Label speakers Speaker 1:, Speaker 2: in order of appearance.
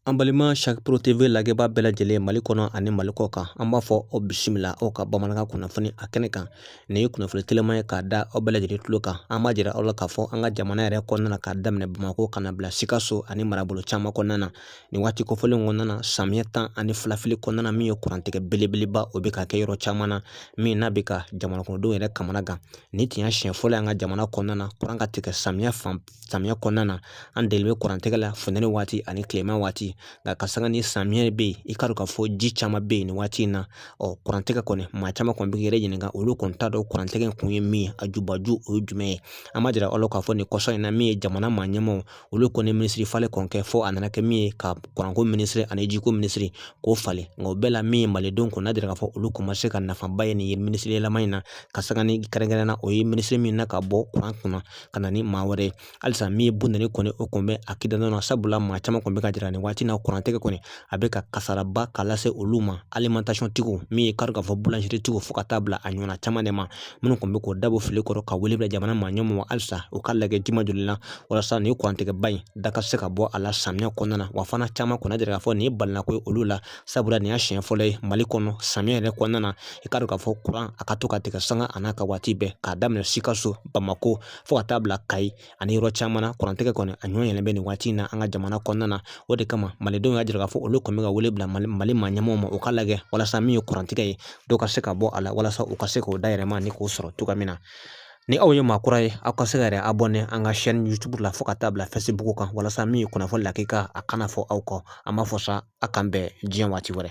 Speaker 1: An balima Sac Pro TV lajɛbaa bɛɛ lajɛlen Mali kɔnɔ ani Mali kɔ kan an b'a fɔ aw bisimila aw ka bamanankan kunnafoni a kɛnɛ kan nin ye kunnafoni telima ye k'a da aw bɛɛ lajɛlen tulo kan an b'a jira aw la k'a fɔ an ka jamana yɛrɛ kɔnɔna na k'a daminɛ Bamakɔ ka n'a bila Sikaso ani marabolo caman kɔnɔna na nin waati kofɔlen kɔnɔna na samiyɛ tan ani fila fili kɔnɔna na min ye kurantigɛ belebeleba o bɛ ka kɛ yɔrɔ caman na min n'a bɛ ka jamanakɔnɔdenw yɛrɛ kamanagan nin tun y'a siɲɛ fɔlɔ ye an ka jamana kɔnɔna na kuran ka tigɛ samiyɛ fan samiya kɔnɔna na an deli bɛ kuran tɛgɛ la funtɛni waati ani tilema waati nka ka sanga ni samiyɛ bɛ yen i k'a dɔn k'a fɔ ji caman bɛ yen nin waati in na ɔ kuran tɛgɛ kɔni maa caman kɔni b'u yɛrɛ ɲininka olu kɔni t'a dɔn kuran tɛgɛ in kun ye min ye a jubaju o ye jumɛn ye an b'a jira aw la k'a fɔ nin kɔsa in na min ye jamana maa ɲɛmaaw olu kɔni minisiri falen kɔni kɛ fo a nana kɛ min ye ka kuranko minisiri ani jiko minisiri k'o falen nka o bɛɛ la min ye malidenw kun y'a jira k'a fɔ olu kun ma se ka nafaba ye nin ye minisiri yɛlɛma in na ka sanga ni kɛrɛnkɛrɛnnenya o ye minisiri minɛ ka bɔ kuran kunna ka na ni maa wɛrɛ ye halisa min ye buna ni kɔni o kun bɛ a kida nɔ sabula maa caman kun bɛ k'a jira nin waati na kurantɛgɛ kɔni a bɛ ka kasaraba ka lase olu ma alimantasiyɔntigiw min ye kari k'a fɔ bulanzeritigiw fo ka taa bila a ɲɔgɔnna caman de ma minnu kun bɛ k'o dabɔ fili kɔrɔ ka wele bila jamana maa ɲɛmɔgɔw ma halisa u k'a lajɛ jima joli la walasa nin kurantɛgɛba in dɔ ka se ka bɔ a la samiya kɔnɔna na wa fana caman kun y'a jira k'a fɔ nin ye balinako ye olu la sabula nin y'a siɲɛ fɔlɔ ye mali kɔnɔ samiya yɛrɛ kɔnɔna na i k'a dɔn k'a fɔ kuran a ka to ka tigɛ sanga a n'a ka waati bɛɛ k'a daminɛ sikaso bamako fo ka taa bila kayi ani yɔrɔ caman na kurantigɛ kɔni a ɲɔgɔn yelen bɛ nin waati in na an ka jamana kɔnɔna na o de kama malidenw y'a jira k'a fɔ olu kɔni bɛ ka wele bila mali mali maa ɲɛmɔgɔw ma u k'a lajɛ walasa min ye kurantigɛ ye dɔ ka se ka bɔ a la walasa u ka se k'u dayirimɛ nin k'o sɔrɔ cogoya min na Ni aw ye maa kura ye aw ka se k'aw yɛrɛ abɔne an ka shɛni yutubu la fo ka taa bila fɛsibuku kan walasa min ye kunnafoni lakika a kana fɔ aw kɔ an b'a fɔ sa a k'an bɛn diɲɛ waati wɛrɛ